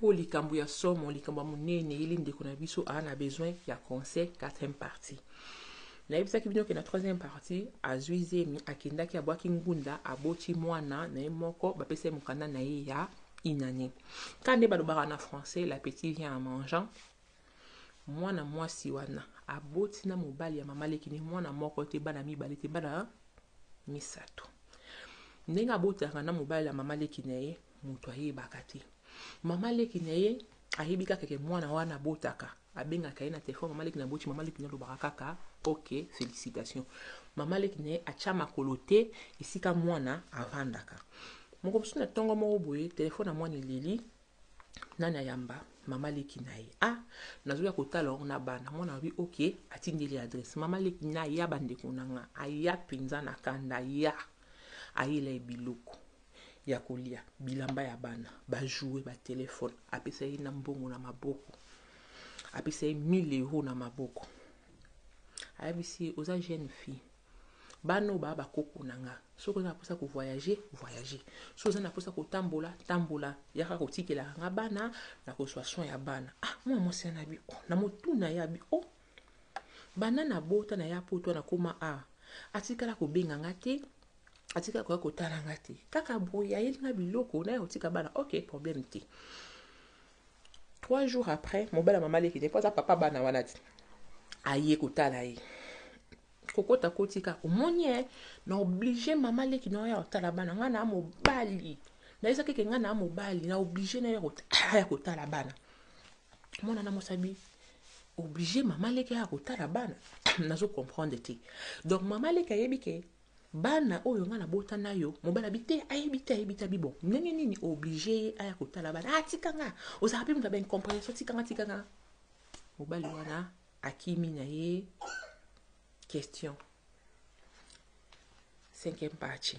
Po likambo ya somo likambo ya munene yeli ndeko na biso aza na besoin ya conseil quatrième partie na yebisaki bino ke na troisième partie azui zemi akendaki abuaki ngunda aboti muana naye moko ba pesa ye mukanda naye ya une annee ka nde balobaka na français la petit vient en mangeant muana muasi wana aboti na mobali ya mama leki naye muana moko te bana mibale te bana misatu ndenge abotelaka na mobali ya mama leki naye mutu ayebaka te maman leki naye ayebi kaka ke muana wana abotaka abengaka ye na telephone maman leki naboti maman leki nalobaka kaka ok felicitation maman leki naye atia makolo te esika muana avandaka moko mosusu na tongo moko boye telephone ya muana eleli nani ayamba mama leki na ye ah nazoya kotala yango na bana mwana alobi ok atindeli adresse mama leki na ya bandeko na nga aya mpenza na kanda ya ayela ye biloko ya kolia, bilamba ya bana, ba jouets, ba telephones, apesa ye na mbongo na maboko, apesa ye 1000 euros na maboko, ayebisi ye oza jeune fille, bana oyo ba ba koko na nga, soki oza na posa ya ko voyager, voyager, soki oza na posa ya kotambola, tambola, yaka kotikelaka nga bana, nakozua soin ya bana, ah! Mwana mwasi wana alobi oh! Na motuna ye alobi oh! Banda na bota na ya poto na koma awa atikala ko benga nga te atikala koya kotala nga te kaka boye ayeli nga biloko na ya kotika bana ok problème te trois jours après mobala mama leki te mpo aza papa bana wana ti aye kotala ye kokota kotika omoni ye na oblige mama leki na oyo ya kotala bana ngai na mobali nayesa keke ngai na mobali na oblige na ya kotala bana mwana na mosabi oblige maman leki aya kotala bana nazo comprendre te donc maman leki ayebi ke bana oyo nga nabota nayo mobali abi te ayebi te ayebi te abi bon ndenge nini oblige ye aya kotala bana ah tika nga ozalaka mpe moto ya baincomprehension tika nga tika nga mobali wana akimi na ye question cinquième partie